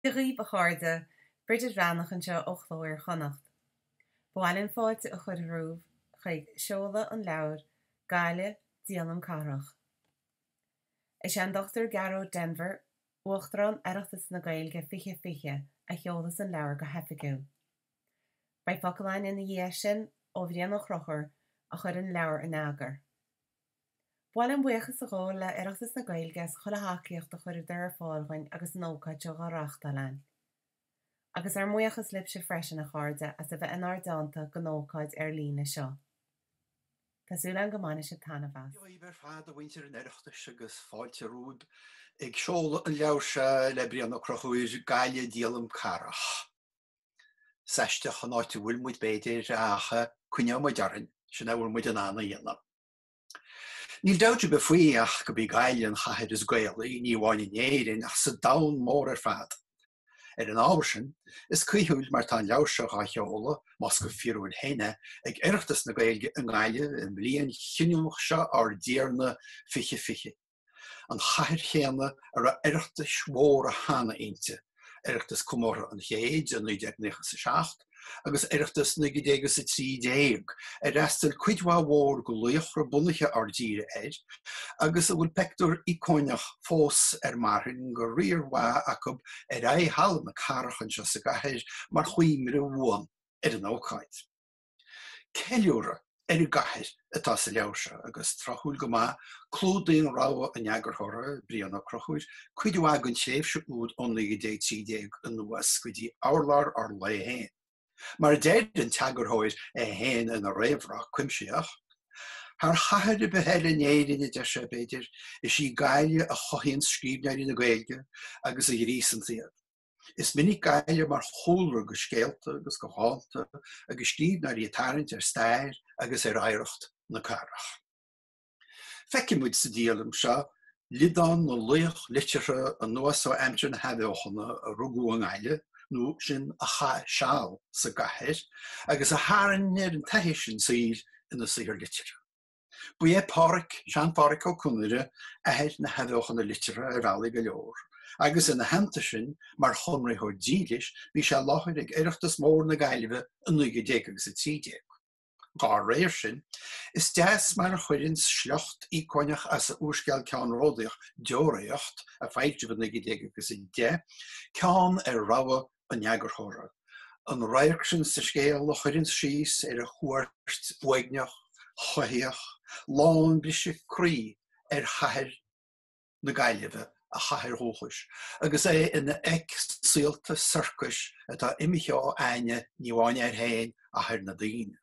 Dia dhíbh a chairde, Bridget Bhreathnach anseo ó Chló Iar-Chonnacht. Ba mhaith linn fáilte a chur romhaibh chuig seoladh an leabhair Gaile, Díolaim Cathrach. Is é an Dr. Gearóid Denvir, Uachtarán Oireachtas na Gaeilge 2020 a sheolas an leabhar go hoifigiúil. Beidh focal againn ina dhiaidh sin ó Bhrian Ó Conchubhair a chuir an leabhar in eagar. Ba mhaith linn buíochas a ghabháil le Oireachtas na Gaeilge as chuile thacaíocht a chuireadar ar fáil dhúinn agus an ócáid seo dhá reáchtáil againn. Agus ár mbuíochas libhse freisin, a chairde, as a bheith inár dteannta don ócáid ar líne seo. Tá súil againn go mbainfidh sibh taitneamh as. Maith sibh ar fad, a mhuintir an Oireachtais, agus fáilte romhaibh ag seoladh an leabhair seo le Brian Ó Conchubhair, Gaile Díolaim Cathrach. Is aisteach an áit a bhfuil muid, b'fhéidir, ach coinneoidh muid orainn, sin a bhfuil muid in ann a dhéanamh. Níl dabht ar bith faoi ach gob í Gaillimh an chathair is Gaelaí, ní amháin in Éirinn ach sa domhan mór ar fad. Ar an ábhar sin, is cuíthiúil mar tá an leabhar seo á sheoladh, más go fíorúil féin é, ag Oireachtas na Gaeilge i nGaillimh i mbliain chinniúnach seo ár dTiarna 2020. an chathair chéanna a raibh Oireachtais mhóra cheana inti, Oireachtas Comórtha an Chéid i 1997 agus Oireachtas 1913, ar fhreastail cuid mhaith mhór de laochra bunaithe ár dtíre air agus a bhfuil peictiúr íocónach fós ar marthain de riar mhaith acu ar aghaidh Halla na Cathrach anseo sa gcathair mar chuimhne bhuan ar an ócáid. Ceiliúradh ar an gcathair atá sa leabhar seo agus, tráthúil go maith, clúdaíonn rogha an eagarthóra, Brian Ó Conchubhair, cuid mhaith den tréimhse úd ó 1913 anuas go dtí urlár ár lae féin. Mar a deir an t-eagarthóir é féin ina réamhrá cuimsitheach, Thar chathair ar bith eile in Éirinn, a deir sé, b'fhéidir, is í Gaillimh a chothaíonn scríbhneoirí na Gaeilge agus a ghríosann iad. Is minic Gaillimh mar chúlra do scéalta agus do dhánta agus scríbhneoirí ag tarraingt ar stair agus ar oidhreacht na cathrach. Feicfidh muid sa díolaim seo liodán na laoch liteartha anuas ó aimsir na hathbheochana a rugadh i nGaillimh nó sin a chaith seal sa gcathair agus a tharraing ar an taithí sin saoil ina saothar liteartha. Ba é Páraic, Sean-Pháraic Ó Conaire, athair na hathbheochana liteartha ar bhealaí go leor, agus ina theannta sin, mar Chonraitheoir dílis, bhí sé i láthair ag Oireachtas Mór na Gaillimhe i 19 agus 13. Dá réir sin, is deas mar a chuireann sliocht íocónach as a úrscéal ceannródaíoch Deoraíocht, a foilsíodh i 1910, ceann ar rogha an eagarthóra, an radharc sin sa scéal a chuireann síos ar a chuairt uaigneach, chumhaíoch, lán briseadh croí ar chathair na Gaillimhe, a chathair dhúchais, agus é ina fhreic saolta sorcais atá imithe ó aithne, ní amháin air féin, ach ar na daoine.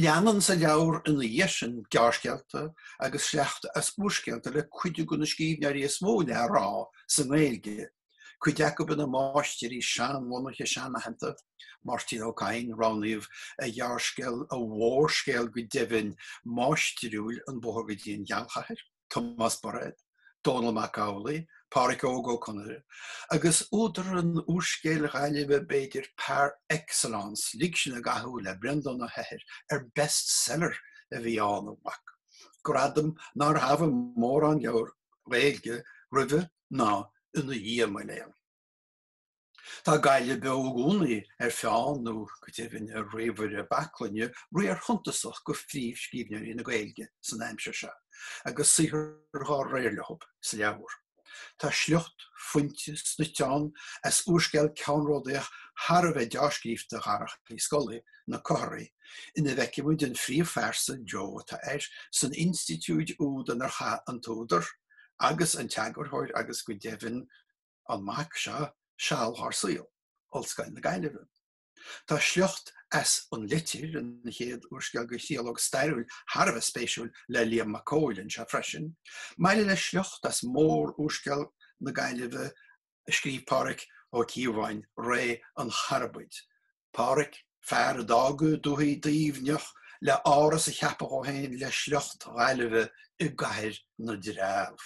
Leanann sa leabhar ina dhiaidh sin gearrscéalta agus sleachta as úrscéalta le cuid de na scríbhneoirí is mó le rá sa nGaeilge, cuid acu ina máistirí seanbhunaithe seanaitheanta, Máirtín Ó Cadhain, roghnaíodh a ghearrscéal, a mhórscéal go deimhin, máistriúil An Bóthar go dtí an Ghealchathair. Tomás Bairéad, Dónall Mac Amhlaigh, Pádhraic Óg Ó Conaire, agus údar an úrscéil Ghaillimhe b'fhéidir par excellence, Lig Sinn i gCathú le Breandán Ó hEithir, ar best seller a bhí ann, ambaic, gradam nár thabhaigh mórán leabhar Gaeilge roimhe ná ina dhiaidh, mo léan. Tá Gaillimh beo i gcónaí ar pheann, nó go deimhin ar ríomhaire baclainne, riar suntasach de phríomhscríbhneoirí na Gaeilge san aimsir seo, agus saothar dhá réir leo sa leabhar. Tá sliocht fuinte snoite ann as úrscéal ceannródaíoch thar a bheith deá-scríofa Dharach Uí Scolaí, Na Comharthaí, ina bhfeicimid an phríomhphearsa, Joe atá air, san institiúid úd inar chaith an t-údar, agus an t-eagarthóir agus go deimhin, an mac seo seal dhár saol, Ollscoil na Gaillimhe. Tá sliocht as An Litir, an chéad úrscéal go thriológ stairiúil thar a bheith spéisiúil le Liam Mac Cóil anseo freisin, maille le sliocht as mórúrscéal na Gaillimhe a scríobh Pádhraic Ó Cíobháin, Ré an Charbaid. Pádhraic, fear a d'fhága Dúthaigh Duibhneach le áras a cheapadh dhó féin le sliocht Ghaillimhe i gcathair na dtreabh.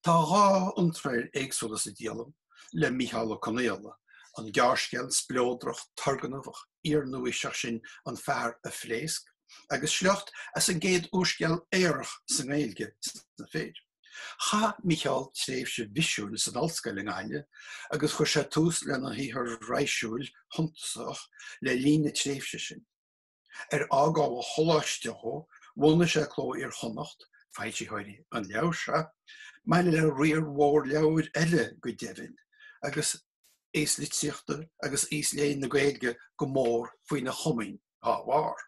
Tá dhá iontráil éagsúla sa díolaim le Mícheál Ó Conghaile, an gearrscéal spleodrach turgnamhach iar-nuaaoiseach sin An Fear a Phléasc agus sliocht as an gcéad úrscéal aorach sa nGaeilge sna fir. Chaith Mícheál tréimhse bhisiúil san ollscoil i nGaillimh agus chuir sé tús lena shaothar raidhsiúil suntasach le linn na tréimhse sin. Ar fhágáil an choláiste dhó, bhunaigh sé Cló Iar-Chonnacht, foilsitheoirí an leabhair seo, maille le riar mhór leabhair eile go deimhin, agus aos litríochta agus aos léinn na Gaeilge go mór faoina chomaoin dá bharr.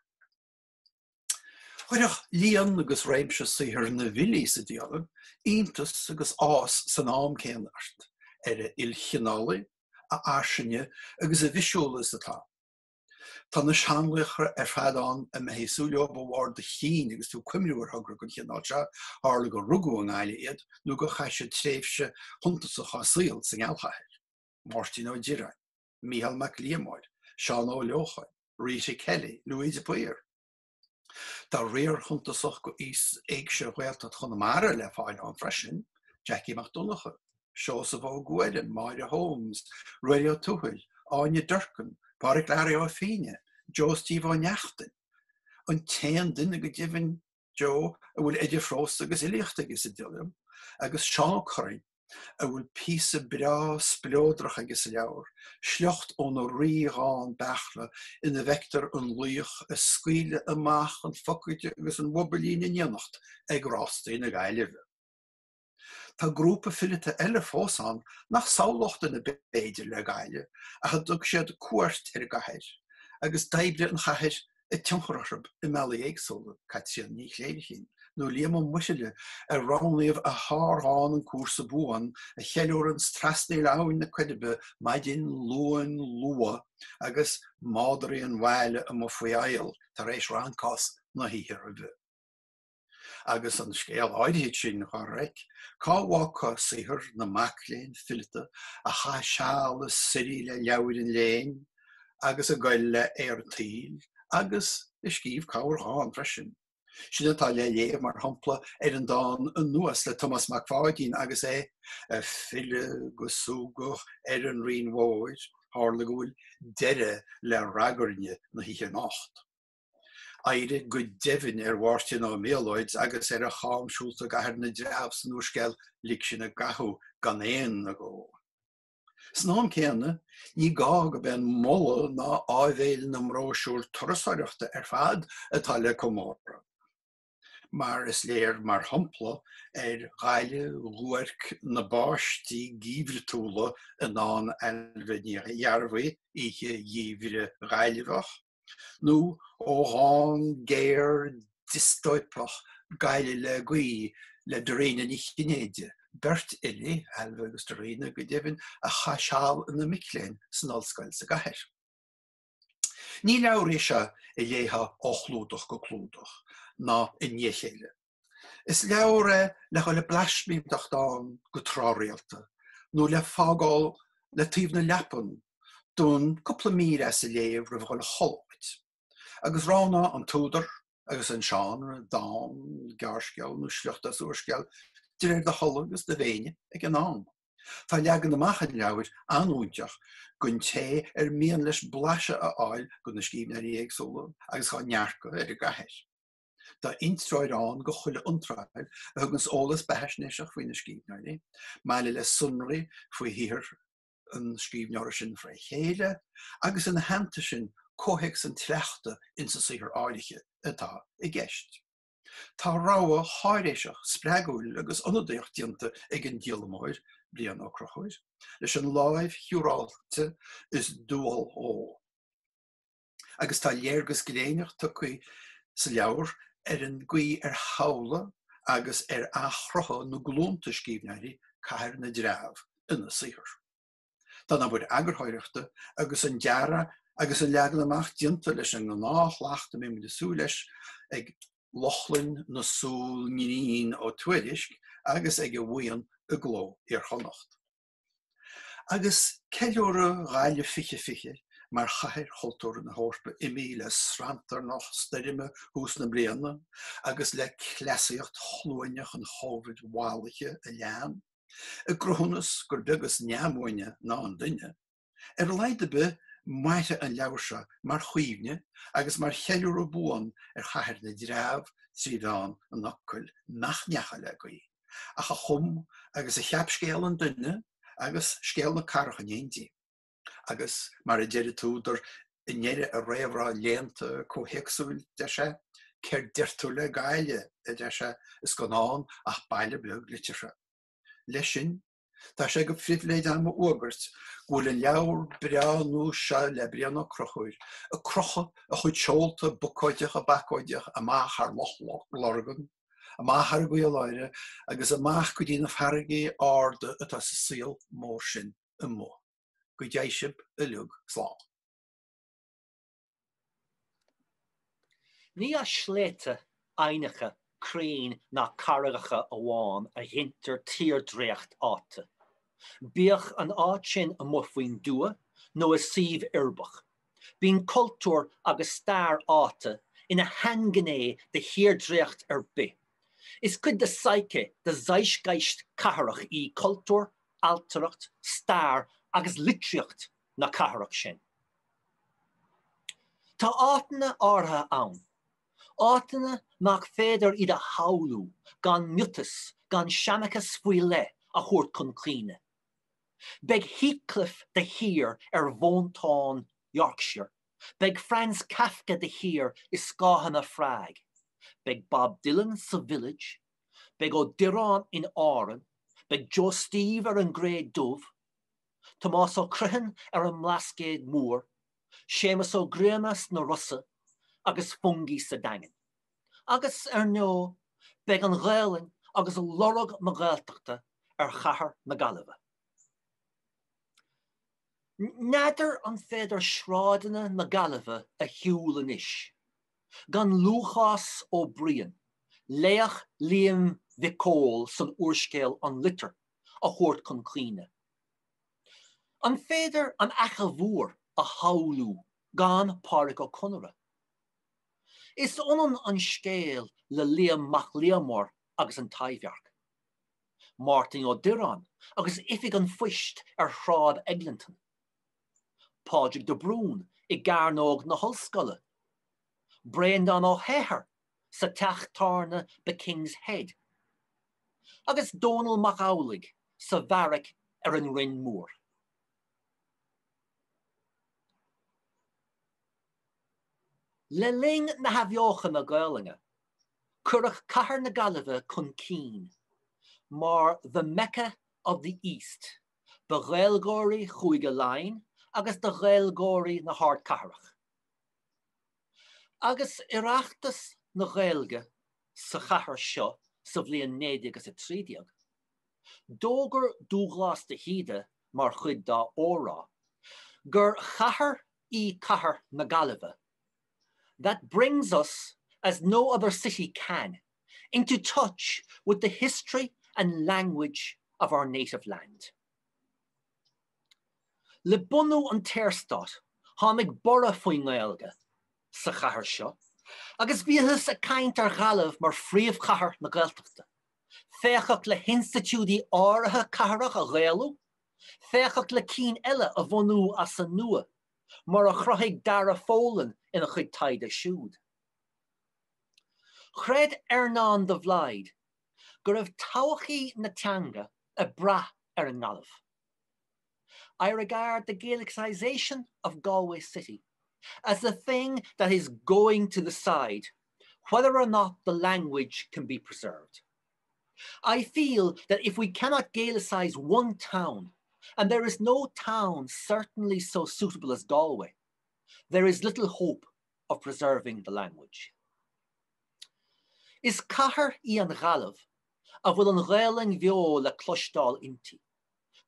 Chuirfeadh líon agus réimse saothar na bhfilí sa díolaim iontas agus áthas san am céanna ort, ar a ilchineálaí, a fhairsinge agus a bhisiúla is atá. Tá na seanlaochra ar fad ann a mbeifeá ag súil leo ó bharr do chinn agus tú ag cuimhniú ar thogra den chineál seo, tharla gur rugadh i nGaillimh iad nó gur chaith siad tréimhse shuntasach dá saol sa ngealchathair, Máirtín Ó Direáin, Micheál Mac Liammóir, Seán Ó Leocháin, Rita Kelly, Louis de Paor. Tá riar shuntasach d'aos éigse Ghaeltacht Chonamara le fáil ann freisin, Jackie Mac Donncha, Seosamh Ó Guairim, Máire Holmes, Ruairí Ó Tuathail, Áine Durkin, Pádraic Learaí Ó Fínneadha, Joe Steve Ó Neachtain, an t-aon duine go deimhin, Joe, a bhfuil idir phrós agus fhilíocht aige sa díolaim, agus Seán Ó Curraoin. a bhfuil píosa breá spleodrach aige sa leabhar, sliocht óna rídhán Beairtle ina bhfeictear an laoch ag scaoileadh amach an phocaide agus an bhobailín in éineacht ag Rástaí na Gaillimhe. Tá grúpa fileata eile fós ann nach samhlódh duine b'fhéidir le Gaillimh ach a dtug siad cuairt ar an gcathair agus d'oibrigh an chathair a tionchar orthu i mbealaí éagsúla, Caitríona Ní Chléirichín nó Liam Ó Muirthile ar roghnaíodh a shárdhán 'An Cúrsa Buan' a cheiliúranns trasnaíl Abhainn na Coiribe maidin Luain luath agus madraí an bhaile amuigh faoi aol tar éis rancás na hoíche roimhe. agus an scéal áirithe sin á reic, cá bhfágfá saothar na mac léinn fileata a chaith seal ag suirí le leabhair an léinn agus ag goil le haer an tsaoil agus a scríobh corrdhán freisin. Sin atá le léamh mar shampla ar an dán anuas le Tomás Mac Pháidín agus é ag filleadh go súgach ar an Rinn Mhóir, tharla go bhfuil deireadh le ragairne na hoíche anocht. Oidhre go deimhin ar Mháirtín Ó Méalóid agus ar a chamshiúlta i gCathair na dTreabh san úrscéal Lig Sinn i gCathú gan aon agó. San am céanna, ní gá gurb é an moladh ná áibhéil na mbróisiúr turasóireachta ar fad atá le comóradh. mar is léir mar shampla ar Ghaillimh dhuairc na báistí geimhriúla i ndán Ailbhe Ní Ghearbhuigh, Oíche Gheimhridh Ghaillmheach, nó ó dhán géar diostóipeach Gaillimh le Gaoith le Dairena Ní Chinnéide, beirt fhilí, Ailbhe agus Dairena, go deimhin, a chaith seal ina mic léinn san ollscoil sa gcathair. Ní leabhar é seo a léifeá ó chlúdach go clúdach, ná i ndiaidh a chéile. Is leabhar é le dhul ag blaismínteacht ann go tráthrialta, nó le fágáil le taobh na leapan d'fhonn cúpla mír as a léamh roimh dhul a chodladh duit, agus roghnaigh an t-údar agus an seánra, dán, gearrscéal nó sliocht as úrscéal, de réir do thola agus do mhéine ag an am. Tá leagan amach an leabhair an-fhúinteach gon té ar mian leis blaiseadh a fháil go na scríbhneoirí éagsúla agus dá ndearcadh ar an gcathair. Tá intreoir ann go chuile iontráil, a thuganns eolas beathaisnéiseach faoi na scríbhneoirí, maille le sonraí faoi shaothar an scríbhneora sin fré chéile, agus ina theannta sin, comhthéacs an tsleachta insa saothar áirithe atá i gceist. Tá rogha cháiréiseach spreagúil agus ionadaíoch déanta ag an díolamóir, Brian Ó Conchubhair, leis an láimh shiúráilte is dual dhó. Agus tá léargas gléineach tugtha sa leabhar ar an gcaoi ar shamhlaigh agus ar athchruthaigh na glúnta scríbhneoirí Cathair na dTreabh ina saothar. Tá an obair eagarthóireachta agus an dearadh agus an leagan amach déanta leis an ngnáthshlacht a mbeadh muid ag súil leis ag Lochlainn na súl ngrinn Ó Tuairisc agus ag a bhuíon i gCló Iar-Chonnacht agus ceiliúradh Ghaillimh 2020 mar Chathair Chultúrtha na hEorpa imithe le sranntarnach stoirme thús na bliana agus le cleasaíocht chluaineach an Covid mhallaithe a lean. I gcruthúnas gur beag is neamhbhuaine ná an duine, ar a laghad ar bith, mairfidh an leabhar seo mar chuimhne agus mar cheiliúradh buan ar chathair na dtreabh trí mheán an fhocail nach ndeachaigh le gaoith, ach a chum agus a cheap scéal an duine agus scéal na cathrach in éindí. Agus mar a deir an t-údar i ndeireadh a réamhrá léannta comhthéacsúil, deir sé, Céard deir tú le Gaillimh, a deir sé, is gan ann ach baile beag liteartha. Leis sin, tá sé go phribhléid agam a fhuagairt go bhfuil an leabhar breá nua seo le Brian Ó Conchubhair, ag crochadh a chuid seolta bocóideacha bacóideacha amach thar Loch Lurgan, amach thar an gCaoláire agus amach go dtí na farraigí arda atá sa saol mór sin. amuigh. Go dté sibh uilig slán. Ní as sléibhte, aibhneacha, crainn ná carraigeacha amháin a ghintear tírdhreacht áite, bíodh an áit sin amuigh faoin dtuath nó i suíomh uirbeach. Bíonn cultúr agus stair áite ina shainghné de thírdhreacht ar bith. Is cuid de psyche, de zeitgeist cathrach í cultúr, ailtireacht, stair agus litríocht na cathrach sin. Tá áiteanna áirithe ann, áiteanna nach féidir iad a shamhlú gan miotas, gan seanchas faoi leith a thabhairt chun cuimhne. Beidh Heathcliff de shíor ar mhóinteáin Yorkshire, beidh Franz Kafka de shíor i scáthanna Phrág, beidh Bob Dylan sa Village, beidh Ó Direáin in Árainn, beidh Joe Steve ar an gCré Dubh, Tomás Ó Criomhthain ar an mBlascaod Mór, Séamus Ó Grianna sna Rosa agus Fungie sa Daingean. Agus, ar ndó, beidh an Ghaelainn agus lorg na Gaeltachta ar chathair na Gaillimhe. N'fheadar an féidir sráideanna na Gaillimhe a shiúl anois gan Lúcás Ó Briain, laoch Liam Mhic Cóil san úrscéal An Litir, a thabhairt chun cuimhne. An féidir An Fhaiche Mhór a shamhlú gan Pádraic Ó Conaire? Is ionann an scéal le Liam Mac Liammóir agus an Taibhdhearc. Máirtín Ó Direáin agus Oifig an Phoist ar Shráid Eglinton. Pádraig de Brún i gCearnóg na hOllscoile. Breandán Ó hEithir sa teach tábhairne The King's Head. Agus Dónall Mac Amhlaigh sa bheairic ar an Rinn Mhór. Le linn na hathbheochana Gaelainne, cuireadh cathair na Gaillimhe chun cinn mar the Mecca of the East do Ghaeilgeoirí Chúige Laighean agus do Ghaeilgeoirí na hardchathrach. Agus Oireachtas na Gaeilge sa chathair seo sa bhliain naoi déag is a trí déag, d'fhógair Dubhghlás de hÍde mar chuid dá óráid gur chathair í cathair na Gaillimhe. That brings us, as no other city can, into touch with the history and language of our native land. Le bunú an tSaorstáit, tháinig borradh faoin nGaeilge sa chathair seo agus bhíothas ag caint ar Ghaillimh mar phríomhchathair na Gaeltachta, féachadh le hinstitiúidí áirithe cathrach a ghaelú Féachadh le cinn eile a bhunú as an nua, mar a chruthaigh Dara Folan ina chuid taighde siúd. Chreid Earnán de Blaghd go raibh todhchaí na teanga ag brath ar an nGaillimh, I regard the Gaelicisation of Galway city as the thing that is going to decide whether or not the language can be preserved. I feel that if we cannot Gaelicise one town, and there is no town certainly so suitable as Galway, there is little hope of preserving the language. Is cathair í an Ghaillimh a bhfuil an Ghaelainn bheo le cloisteáil inti.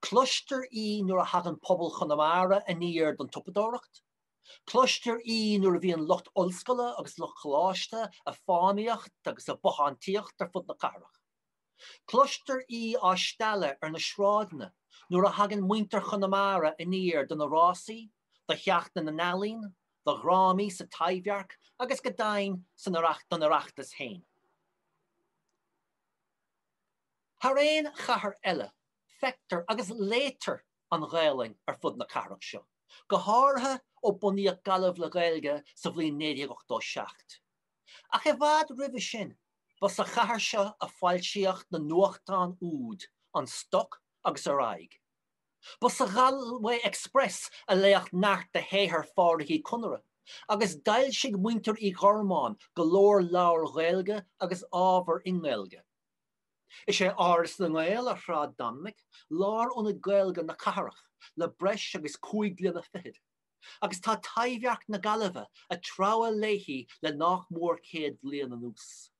Cloistear í nuair a thagann pobal Chonamara aniar don tsiopadóireacht, Cloistear í nuair a bhíonn lucht ollscoile agus lucht coláiste a' fánaíocht agus a' bothántaíocht ar fud na cathrach. Cloistear í á stealladh ar na sráideanna nuair a thagann muintir Chonamara aniar do na rásaí, do Sheachtain na nEalaíon, do dhrámaí sa Taibhdhearc agus go deimhin san don Oireachtas fhéin. Thar aon chathair eile, feictear agus léitear an Ghaelainn ar fud na cathrach seo, go háirithe ó bunaíodh Gaillimh le Gaeilge sa bhliain 1987. Ach i bhfad roimhe sin, ba sa chathair seo a foilsíodh na nuachtáin úd, An Stoc agus Ar Aghaidh. Ba sa Galway Express a léadh neart de shaothar Phádraic Uí Conaire, agus d'fhoilsigh muintir Uí Ghormáin go leor leabhar Ghaeilge agus ábhar i nGaeilge. Is é Áras na nGael ar Shráid Dominic lárionad Gaeilge na cathrach le breis agus cúig bliana fichead, agus tá Taibhdhearc na Gaillimhe a' treabhadh léi le nach mór céad bhliain anuas.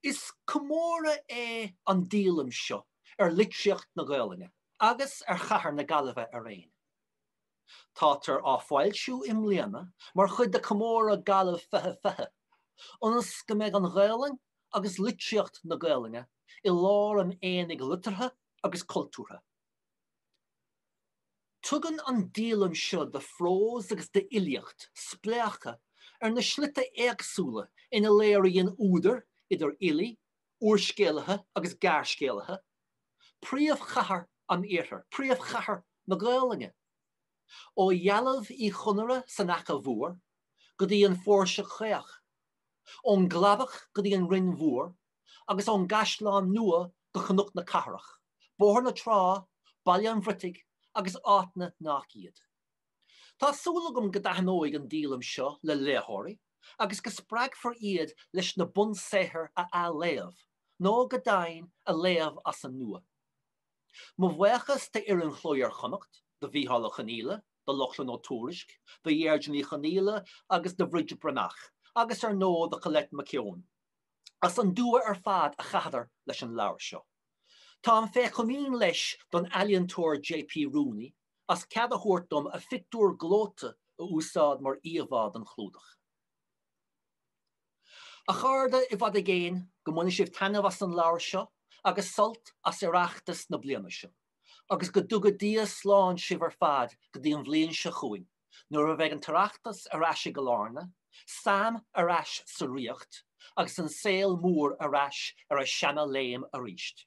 Is comóradh é an díolaim seo ar litríocht na Gaelainne agus ar chathair na Gaillimhe araon. Táthar á foilsiú i mbliana mar chuid de Comóradh Gaillimh 2020, ionas go mbeidh an Ghaelainn agus litríocht na Gaelainne i lár an aonaigh liteartha agus cultúrtha. Tugann an díolaim seo de phrós agus d'fhilíocht spléachadh ar na slite éagsúla ina léiríonn údair, idir fhilí úrscéalaithe agus gearrscéalaithe, príomhchathair an iarthair, príomhchathair na Gaelainne. Ó dhealbh Uí Chonaire san Fhaiche Mhór go dtí an Phóirse Caoch, ón gCladach go dtí an Rinn Mhór agus ón gCaisleán Nua go Cnoc na Cathrach, Bóthar na Trá, Baile an Bhriotaigh agus áiteanna nach iad. Tá súil agam go dtaitneoidh an díolaim seo le léitheoirí agus go spreagfar iad leis na bunsaothair a athléamh, nó go deimhin a léamh as an nua. Mo bhuíochas d'fhoireann Chló Iar-Chonnacht, do Mhicheál Ó Conghaile, do Lochlainn Ó Tuairisg, do Dheirdre Ní Chonghaile agus do Bhridget Breathnach, agus ar ndóigh do Colette McKeown, as an dua ar fad a chaitheadar leis an leabhar seo. Táim fé chomaoin leis don ealaíontóir JP Rooney as cead a thabhairt dom a phictiúr gleoite a úsáid mar íomhá don chlúdach. A chairde, i bhfad i gcéin, go mbaine sibh taitneamh as an leabhar seo agus sult as Oireachtas na bliana seo, agus go dtuga Dia slán sibh ar fad go dtí an bhliain seo chugainn, nuair a bheidh an tOireachtas ar ais i gCill Airne, Sam ar ais sa Ríocht, agus an saol mór ar ais ar a sheana-léim aríst.